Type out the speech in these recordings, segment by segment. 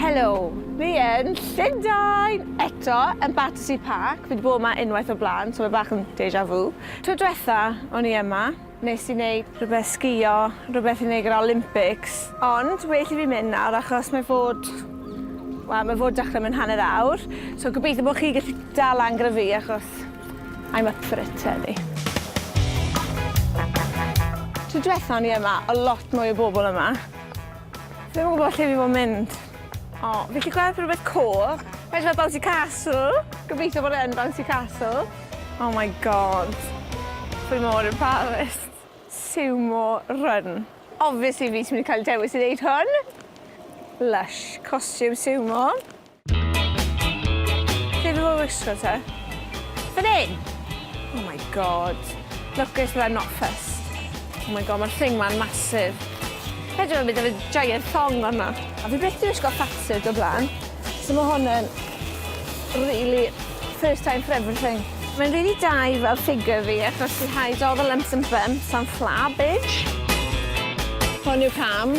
Helo, fi yn Llundain eto, yn Battersea Park, fi 'di bod 'ma unwaith o'r blaen, so mae bach yn deja vu. Tro diwetha o'n i yma, nes i wneud rhywbeth sgïo, rhywbeth i wneud gyda'r Olympics, ond well i fi mynd nawr achos mae fod, wel, mae fod dechrau mewn hanner awr, so gobeithio bod chi'n gallu dal lan gyda fi achos I'm up for it heddi. Tro dwetha o'n i yma, o lot mwy o bobl yma. Ddim yn gwybod lle fi fod mynd. O, fi chi gweld rhywbeth cool. Mae'n fel Bouncy Castle. Gobeithio bod e'n Bouncy Castle. Oh my god. Fi mor embarrassed. Sumo run. Obviously fi sy'n mynd i cael dewis i ddeud hwn. Lush, costume sumo. Lle fi fod wisgo te? Fan hyn? Oh my god. Look at that not fussed. Oh my god, mae'r thing ma'n masif. Rhaid yma bydd efe giant thong fanna. A fi byth di wisgo fatsuit o blaen. So mae hwn yn really first time for everything. Mae'n rili really da i fel ffigur fi achos i hide all the lumps and bumps and flabbage. Hwn yw cam.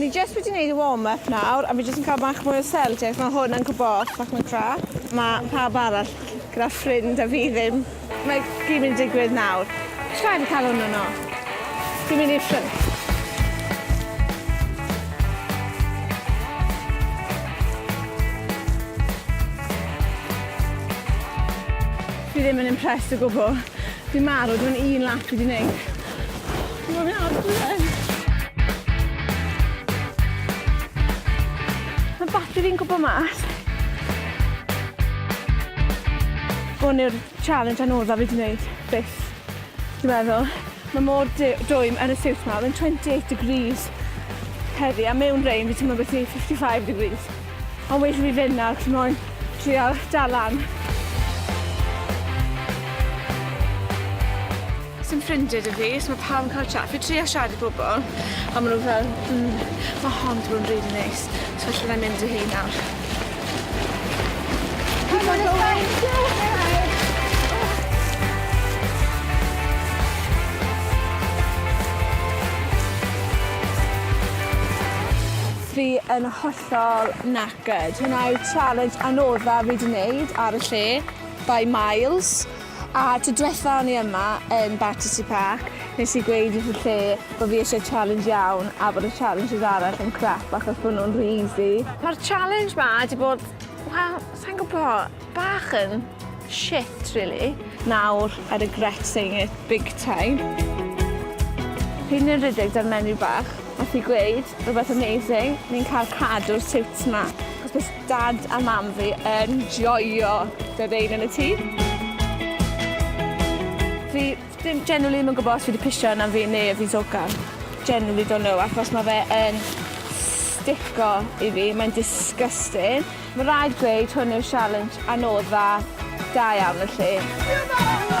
Ni jyst wedi gwneud y warm-up nawr a fi jyst yn cael bach mwy o seldio ac mae hwn yn gwybod bach mwy crap. Mae pawb arall gyda ffrind a fi ddim. Mae gyd mynd i digwydd nawr. Rhaid i cael hwn yno. Fi'n mynd i'r ffrind. Fi ddim yn impressed o gwbl. Dwi'n marw, dwi'n un lap i di wneud. Dwi'n mynd ar blwyddyn. Mae bati fi'n gwybod mas. Hwn yw'r challenge anoddaf i di wneud, byth. Dwi'n meddwl, mae mor dwym yn y siwt yma, mae'n 28 degrees heddi, a mewn rein fi ti'n meddwl beth i 55 degrees. Ond well i fi fynd nawr cos moyn trial dal lan. Sim ffrindie da fi, so mae pawb yn cael chat. Fi trio siarad i bobl, ond maen nhw fel, mm, mae hon wedi bod yn really neis. So felly na mynd i hi nawr. Keep on going. Fi yn hollol knackered. Hwnna yw challenge anodda fi 'di neud ar y lle, by miles. A tro dwetha o'n i yma yn Battersea Park, nes i gweud wrth y lle bo' fi isie challenge iawn a bod y challenges arall yn crap achos bo' nhw'n rhy easy. Ma'r challenge 'ma 'di bod, wel, sai'n gwbo. Bach yn shit rili. Nawr I regret saying it big time. P'un yn rhedeg 'da'r menyw bach, nath hi gweud rwbeth amazing, ni'n cael cadw'r siwts 'ma, achos bydd dad a mam fi yn joio dy rein yn y tŷ. Fi ddim generally ddim yn gwybod os fi wedi pisio arnaf fi neu y Visoka. Generally don't know achos mae fe yn stico i fi, mae'n disgusting. Mae rhaid gweud hwn yw'r sialens anodda da iawn felly.